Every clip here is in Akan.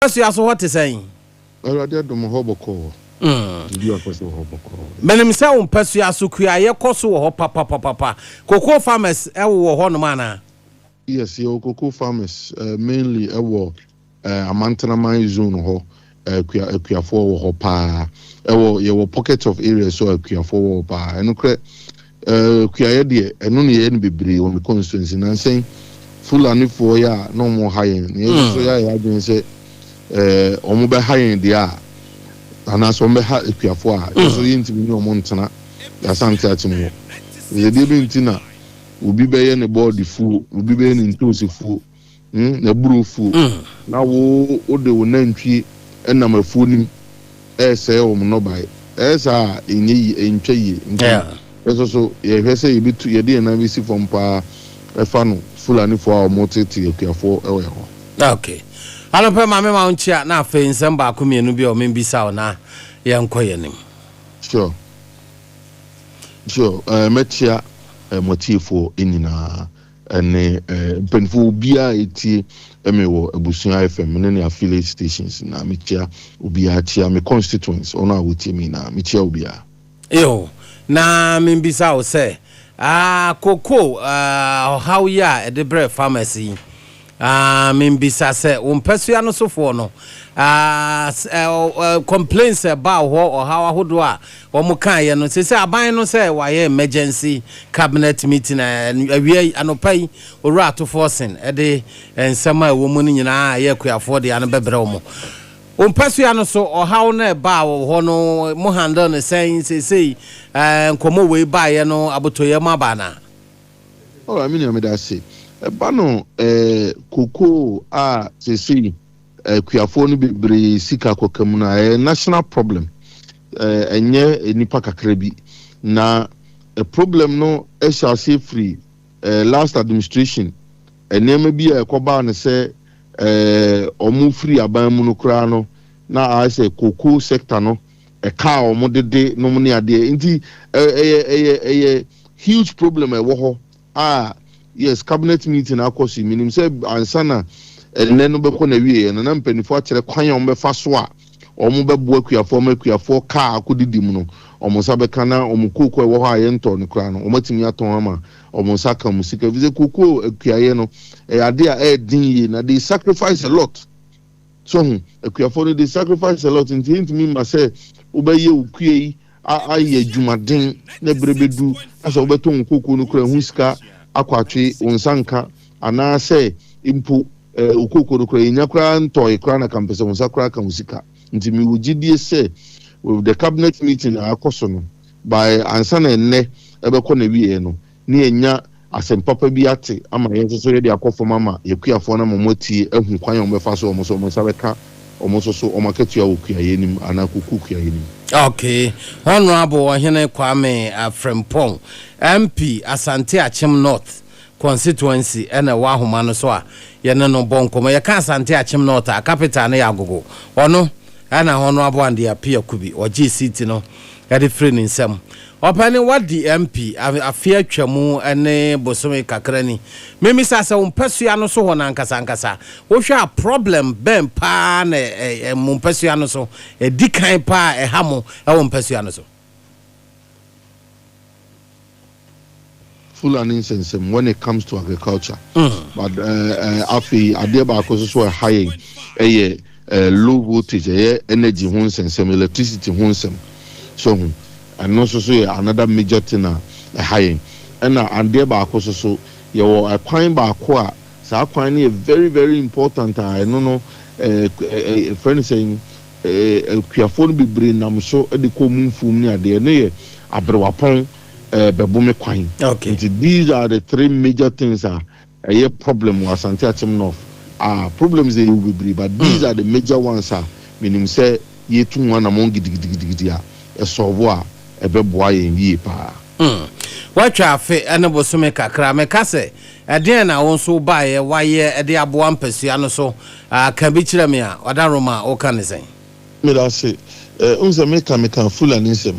Adesuasua so hɔ te sɛn? Awurade adom hɔ bɔkɔɔ. Biribi akɔ so wɔ hɔ bɔkɔɔ. Menim sɛ wo mpasua so kuayɛ kɔ so wɔ hɔ papapapapa. Cocoa farmers wowɔ hɔnom anaa? Yes, yɛwɔ cocoa farmers mainly wɔ Amantenaman zone hɔ. Akua akuafoɔ wɔ hɔ paa. Ɛwɔ yɛwɔ pockets of areas so a akuafoɔ wɔ hɔ paa. Ɛnokorɛ. Eh, kuayɛ deɛ, ɛno na yɛyɛ no bebree wɔ me constituency. Nansa yi, Fulanifoɔ yɛ a na wɔha yɛn, na yɛn nso so yɛayɛ adwene sɛ eh, wɔbɛha yɛn deɛ a, anaasɛ wɔbɛha akuafoɔ a, yɛn nso yɛntumi ne wɔn ntena Asante Akyem hɔ. Sɛ deɛ bɛn nti na obi bɛyɛ ne bɔɔdefuo, obi bɛyɛ ne ntoosi fuo, mm, n'aburofuo. Mm. Na wo, wode wo nantwie nam afuo no mu resɛe wɔn nnɔbaeɛ. Ɛyɛ saa a, ɛnyɛ yie, ɛntwa yie. Nti, Yeah. yɛn nso so, yɛhwɛ sɛ yɛbɛtu, yɛde yɛn nan bɛsi fam paa ɛfa no Fulanifoɔ a wɔtete akuafoɔ wɔ yɛn hɔ. Ok. Anɔpɛ ma me ma wo nkyea na afei nsɛm baako mmienu bi a ɔme mbisa wo na yɛnkɔ yɛn anim. Sure. Sure. Eh, mɛkyea eh, mo atiefoɔ nyinaa. Ɛne mpanyinfoɔ obiara a etie me wɔ Abusua FM, me ne ne affiliate stations nyinaa, me kyea obiara, kyea me constituents, wɔn a wɔtie me nyinaa, me kyea obiara. Eo, na menbisa wo sɛ, ah, cocoa, ah, ɔhaw yi a ɛde brɛɛ farmers yi, Ah, membisa sɛ wo mpasua no sofoɔ no ah, complaints ɛbaa hɔ ɔhaw ahodoɔ a wɔn kaeɛ no sɛ sɛ aban no sɛ wɔayɛ emergency cabinet meeting awia yi anɔpa yi owura atofoɔ sen ɛde nsɛm a ɛwɔ mu no nyinaa ɛyɛ akuafoɔ deɛ ano bɛbrɛ wɔn wo mpasua no so ɔhaw no ɛbaa wɔ hɔ no mo handle no sɛn sɛsei nkɔmmɔ wei baeɛ no abotɔyɛ mu abaa no a Oh ah me nua meda ase. Ɛba no eh kokoo a seesei akuafoɔ no bebree sika kɔka mu no a ɛyɛ national problem eh ɛnyɛ nnipa kakra bi. Na eh problem no ɛhyɛ aseɛ firi eh last administration nneɛma bi a ɛkɔbaa no sɛ eh wɔn firi aban mu no koraa no na ayɛ sɛ cocoa sector no Ɛka a wɔn dede nom ne adeɛ nti ɛyɛ ɛyɛ ɛyɛ huge problem a ɛwɔ hɔ a yes cabinet meeting akɔ so yi menim sɛ ansa na ɛnnɛ no bɛkɔ n'awieɛ no na mpaninfoɔ akyerɛ kwan a wɔn bɛfa so a wɔn bɛboa kuafoɔ ama kuafoɔ kaa a akɔ didi mu no wɔn nsa bɛka na wɔn kooko a ɛwɔ hɔ a yɛntɔɔ no koraa no wɔn atumi atɔn ama wɔn nsa aka wɔn sika ɛfiri sɛ kooko akuayɛ no ɛyɛ adeɛ a ɛyɛ den yie na they sacrifice a lot So hu? Akuafo no, they sacrifice a lot, nti entumi mma sɛ wobɛyɛ wo kua yi ayɛ adwumaden na bere bedu na sɛ wobɛtɔn wo kooko no koraa ɛho sika akɔ atwe wo nsa nka anaasɛ mpo eh, wo kooko no koraa yɛnya koraa ntɔe koraa na kampɛ sɛ wo nsa koraa ka wo sika. Nti mewɔ gyidie sɛ with the cabinet meeting a akɔ so no by ansa na ɛnnɛ ɛbɛkɔ n'awieɛ no, ne yɛanya asɛm papa bi ate ama yɛn nso so yɛde akɔ fam ama y'akuafoɔ no ama wɔatie ahu kwan a wɔbɛfa so a wɔn nso wɔn nsa bɛka wɔn nso so wɔn akatua wɔ kuayɛ no mu anaa kuku kuayɛ no mu. Okay. Honourable Ɔhene Kwame Afrempong, MP Asante Akyem North Constituency na ɛwɔ ahoma no so a yɛne no bɔ nkɔmmɔ. Yɛka Asante Akyem North a, capital no yɛ Agogo. Ɔno na Honourable Andy Appiah Kubi, ɔgyee seat no de firii ne nsam. Ɔpɛni Wadi MP afe atwam ne bosome kakra ni. Memisa asɛ wo mpɛsoa no so hɔ no ankasa ankasa wohwɛ a problem bɛn paa na mo mpɛsoa no so ɛdi kan paa a ɛha mo wɔ mpɛsoa no so? Fulani nsɛnsɛm when it comes to agriculture but afei adeɛ baako nso so a ɛha yɛn yɛ low voltage ɛyɛ energy ho nsɛnsɛm electricity ho nsɛm so ho ɛno nso so yɛ another major thing a ɛha yɛn ɛna adeɛ baako nso so yɛwɔ kwan baako a saa kwan no yɛ very very important a ɛno no ɛfrɛ no sɛn akuafoɔ no bebree nam so de kɔ wɔn mfuom ne adeɛ ɛno yɛ aberewapɔn bɛbo me kwan nti these are the three major things a ɛyɛ problem wɔ Asante Akyem North a problems yɛ yɛ wɔ bebree but these are the major ones a menim sɛ yɛtu ho anamɔn gidigidigidi a ɛsɔɔbo a ɛbɛboa yɛn yie paa. Woatwa afe ne bosome kakra meka sɛ ɛdeɛn na wo nso wobaeɛ wayɛ de aboa mpasua no so ka bi kyerɛ me a Ɔda Roma woka ne sɛn? Medase eh wohu sɛ meka meka fulani nsɛm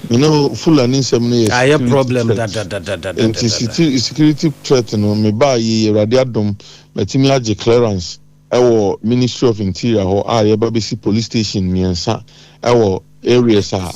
you know fulani nsɛm no yɛ ayɛ problem security threat dadadadadadada nti siti- security threat no mebaa yei awurade adom matumi agye clearance ɛwɔ ministry of interior hɔ a yɛba bɛsi police station mmiɛnsa ɛwɔ areas a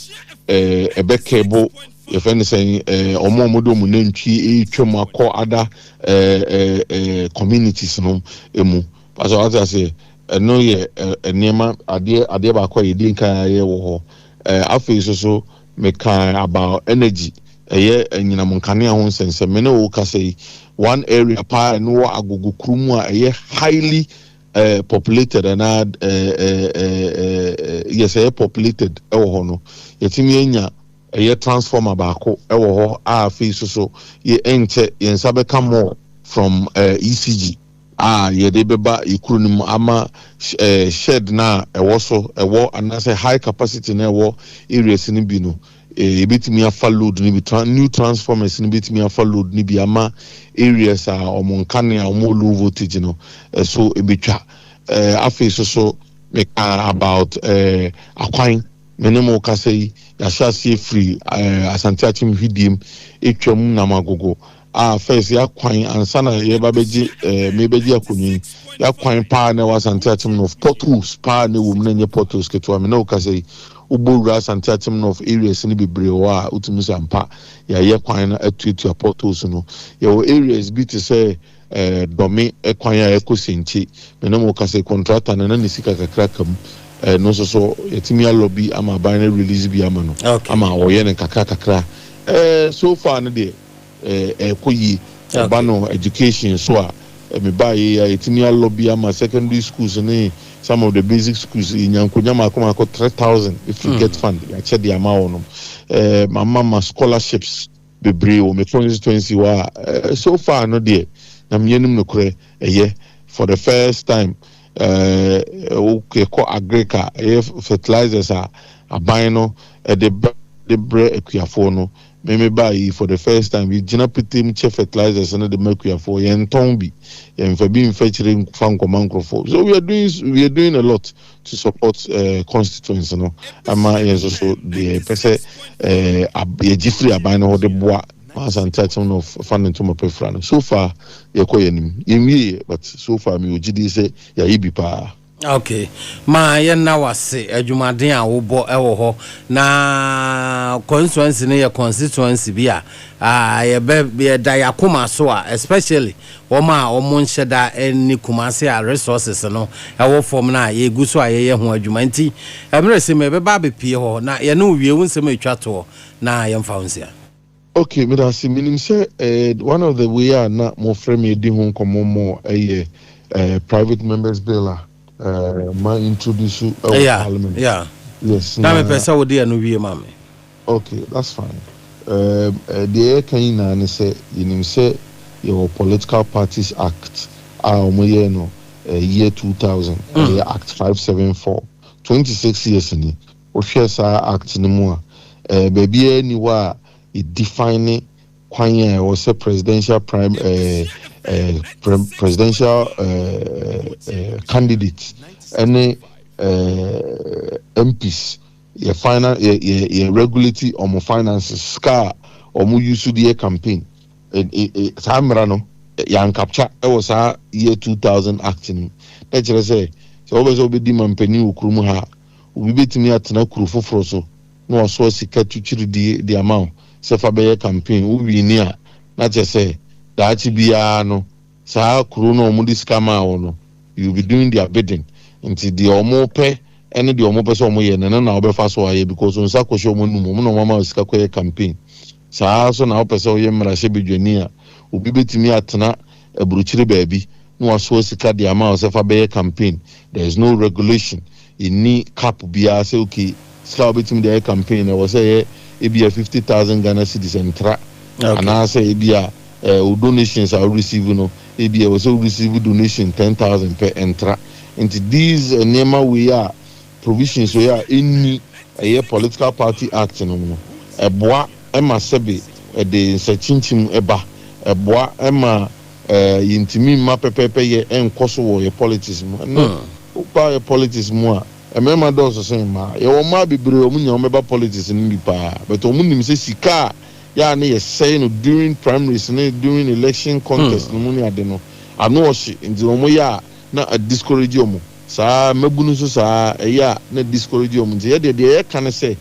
eh, ɛbɛ cable yɛfɛ no sɛn eh, ɔmo a ɔmode ɔmo nantwie ɛretwam akɔ ada eh, eh, eh, communities no mu Pastor, wate aseɛ, ɛno yɛ nneɛma, adeɛ, adeɛ baako a yɛdi nkan ayɛ wɔ hɔ. Ɛɛ, afei nso so, mekaa about energy, ɛyɛ anyinam nkanea ho nsɛnsɛm. Me ne wo kasa yi, one area paa a ɛno wɔ Agogo kuro mu a ɛyɛ highly eh, populated anaa eh, eh, eh, eh, eh, yes, ɛyɛ populated ɛwɔ hɔ no, yɛtumi anya ɛyɛ transformer baako ɛwɔ hɔ a afei nso so yɛ ɛnkyɛ yɛn nsa bɛka more from eh, ECG. a yɛde bɛba yɛn kuro no mu ama shed no a ɛwɔ so ɛwɔ anaasɛ high capacity no a ɛwɔ areas no bi no yɛbɛtumi afa load no bi new transformers no bɛtumi afa load no bi ama areas a wɔn nkanea a wɔn low voltage no ɛso ɛbɛtwa afei so so meka about akwan me ne mo kasa yi yɛahyɛ aseɛ firi asante akyem hwidiem ɛtwam namagogo Ah first y'akwan ansa na yɛba bɛgye eh, mebɛgye akonnwa yi y'akwan paa na ɛwɔ asante atem north potholes paa na ɛwɔ mu na ɛnyɛ potholes ketewa me ne wo kasa yi wobɔ wura asante atem north areas no bebree wɔ a wotumi sɛ ampa yɛayɛ kwan no atuatua potholes no yɛwɔ areas bi te sɛ eh, dɔme eh, kwan a ɛkɔ senkye me ne mo kasa yi kɔntrata no na ne sika kakra ka mu eh, no nso so yɛtumi alɔ bi ama aban no release bi ama no okay. ama ɔyɛ no kakra kakra eh, so far no deɛ ɛɛkɔ yie. Ɛba no education so a, me baa yei a yɛtumi alɔ bi ama secondary schools ne some of the basic schools, yɛnya nkonya mmaako mmaako three thousand ɛfiri mm. get fund yɛakyɛ de ama wɔ nom. Eh, mama ma scholarships bebree wɔ me constituency hɔ a eh, so far no deɛ na meyɛ nom nokorɛ ɛyɛ for the first time eh, wokɔ uh, agric a ɛyɛ fertilizers a aban no ɛde brɛ akuafoɔ no Me me baa yi for the first time yɛ gyina petee kyɛ fertilizers no de ma akuafoɔ yɛn ntɔn bi yɛn nfa bi nfa akyire nfa nkɔma nkorɔfoɔ so we are doing we are doing a lot to support eh constituents no ɛma yɛn nso so deɛ yɛ pɛ sɛ eh ab yɛ gye firi aban no hɔ de boa ma asante akyem no fa ne ntoma pɛ fira no so far yɛ kɔ yɛ anim yɛn wie yɛ but so far me wɔ gyidie sɛ yɛ ayɛ bi paa. Ok ma yɛ na wase adwumaden a wobɔ wɔ hɔ na constituency no yɛ constituency bi a ah, yɛbɛ yɛda yakoma so a especially wɔn a wɔn nhyɛ da ne kumase a resources no ɛwɔ fam no a yɛgu so a yɛyɛ ho adwuma nti ɛmerɛ sɛ mɛbɛba abɛpie hɔ na yɛne wo wie wo nsɛm atwa toɔ na yɛmfa ho nsia. Okay, meda ase. Menim sɛ eh, one of the way a na mofrɛ me adi ho nkɔmmɔ mɔ ɛyɛ eh, private members bill a eh, ma introduce ɛwɔ yeah, parliament. Yeah. Yes, na mepɛ sɛ wode ɛno wie ma me. Okay, that's fine. Um, eh, deɛ yɛka nyinaa ne sɛ yɛnim sɛ yɛwɔ Political Parties Act a wɔyɛɛ no eh, year 2000 mm. ɛyɛ Act 574 26 years ni Wohwɛ saa Act no mu a, eh, baabi ara nni hɔ a edefine kwan a ɛwɔ sɛ presidential prim, eh, eh, pre, presidential eh, eh, candidate ne eh, MPs yɛ finan yɛ yɛ yɛ regulate wɔn finances sika a wɔn use de yɛ campaign. Eh, eh, eh, saa mmara no yankapcha wɔ saa year 2000 act no mu na kyerɛ sɛ sɛ wɔbɛ sɛ wɔbɛdi mampanyin wɔ kurom ha Obi betumi atena kurow foforo so na wasoa sika tukyiridi de ama wo sɛ fa bɛyɛ kampen. Wo wiini a, na kyerɛ sɛ daakye biara no, saa kurow no a wɔde sika maa wo no, you will be doing their bidding. Enti deɛ wɔpɛ ne deɛ wɔpɛ sɛ wɔyɛ no, ɛno na wobɛfa so ayɛ because wo nsa kɔhyɛ wɔn anum, wɔn na wɔama wo sika kɔyɛ kampen. Saa ara nso na wopɛ sɛ woyɛ mmarahyɛbadwani a, obi bɛtumi atena aburukyire baabi na wasoa sika de ama wo sɛ fa bɛyɛ campaign. There is no regulation, ɛnni cap biara sɛ ok, sika a wobɛtumi de ayɛ campaign no ɛwɔ sɛ ɛyɛ ebia fifty thousand Ghana cedis ɛntra, anaa sɛ ebia wo donations a wo receive no ebia ɛwɔ sɛ wo receive donation ten thousand pɛ, ɛntra. Nti these nneɛma wei a provisions wei a ɛnni ɛyɛ political party act no mu no, ɛboa ma sɛbe ɛde nsɛkyinkyim ba, ɛboa ma yɛntumi mma pɛpɛɛpɛ yɛ nkɔ so wɔ yɛ politics mu. Ɛnnɛ woba yɛ politics mu a, mmarima dɔɔso sen mmaa. Yɛwɔ mmaa bebree a wɔnya wɔn bɛba politics no bi paa, but wɔn nim sɛ sika a yɛ a ne yɛsɛe no during primaries ne during election contest no mu ne ade no, ano ɔhye nti wɔyɛ a na a discourage wɔn. Saa ara, mmabunu nso saa ara, ɛyɛ a na ɛdiscourage wɔn. Nti yɛdeɛ, deɛ yɛka ne sɛ,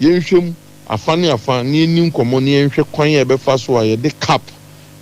yɛnhwɛ mu afa ne afa na yɛnni nkɔmmɔ na yɛnhwɛ kwan a yɛbɛfa so a yɛde cap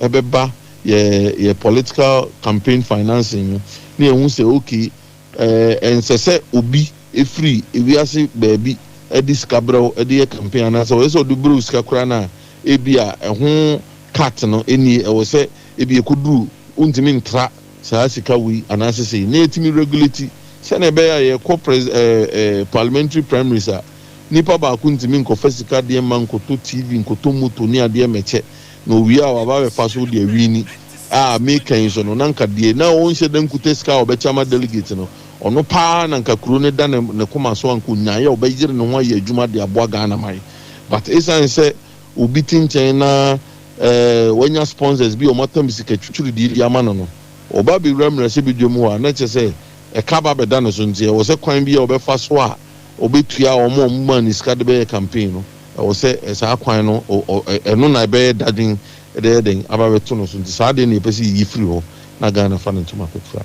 bɛba yɛn yɛn political campaign financing mu na yɛahu sɛ okay, ɛɛ, ɛnsɛsɛ obi firi wiase baabi de sika brɛ wo de yɛ campaign anaasɛ ɔyɛ sɛ ɔde brɛ wo sika koraa no a, ebia ɛho cut no nnie, ɛwɔ sɛ ebia ɛkɔduru wontumi ntra. saa sika wei anaasɛ sei, na yɛtumi regulate sɛnea ɛbɛyɛ a yɛkɔ pres ɛɛ ɛɛ parliamentary primaries a nipa baako ntumi nkɔfa sika adeɛ mma nkɔtɔ TV nkɔtɔ moto ne adeɛ mɛkyɛ na owie a waba abɛfa so de awini a meka yi so no na nka deɛ na ɔnhyɛ da nkuta sika a ɔbɛkyɛ ama delegate no ɔno paa na nka kuro no da ne ne koma so anka onyaeɛ a ɔbɛyere ne ho ayɛ adwuma de aboa Ghana man but ɛsiane sɛ obi te nkyɛn na wanya sponsors bi a wɔatɔn sika twitwiridie de ama no no, ɔba bɛwura mmarahyɛbadwam hɔ a, na kyerɛ sɛ ɛka ba bɛda ne so nti ɛwɔ sɛ kwan bi a ɔbɛfa so a ɔbɛtua wɔn a wɔmaa no sika de bɛyɛ campaign no, ɛwɔ sɛ saa kwan no ɛno na ɛbɛyɛ dadwen de ayɛ dɛn aba bɛto no so nti saa adeɛ no na yɛpɛ sɛ yɛyi firi hɔ na Ghana fa ne ntoma kɔtura.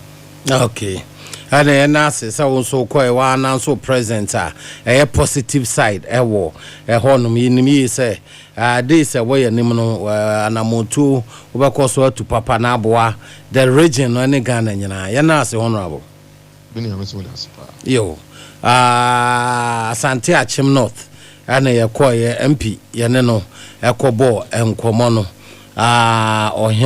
Okay. ɛna yɛn ase sɛ wo nso wokɔ ɛwɔ ananso present a ɛyɛ positive side ɛwɔ ɛhɔnom yɛnim yie sɛ Ade sɛ wɔ yɛn anim no anammɔntuo wobɛkɔ so atu papa na aboa the region no ne Ghana nyinaa. Yɛnna ase Honourable. Me nua mese wo da ase paa. Yo. Aah Asante Akyem North ɛna yɛkɔeɛ MP yɛne no ɛkɔbɔɔ nkɔmɔ no aah Ɔhene.